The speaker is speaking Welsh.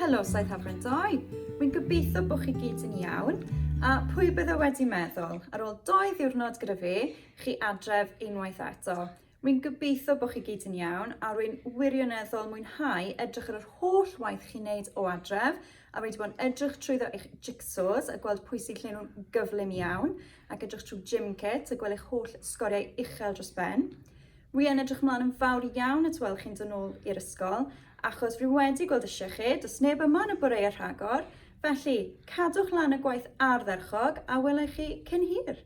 Helo Saith Hafren 2, rwy'n gobeithio bod chi gyd yn iawn, a pwy bydde wedi meddwl, ar ôl doi ddiwrnod gyda fi, chi adref unwaith eto. Rwy'n gobeithio bod chi gyd yn iawn a rwy'n wirioneddol mwynhau edrych ar yr holl waith chi'n neud o adref a rwy wedi bod yn edrych trwyddo eich jigsaws a gweld pwy sy'n lle nhw'n gyflym iawn ac edrych trwy gym kit a gweld eich holl sgoriau uchel dros ben. Rwy yn edrych ymlaen yn fawr iawn at weld chi'n dod nôl i'r ysgol achos rwy wedi gweld eisiau chi, does neb yma yn y boreau rhagor, felly cadwch lan y gwaith ardderchog a welai chi cyn hir!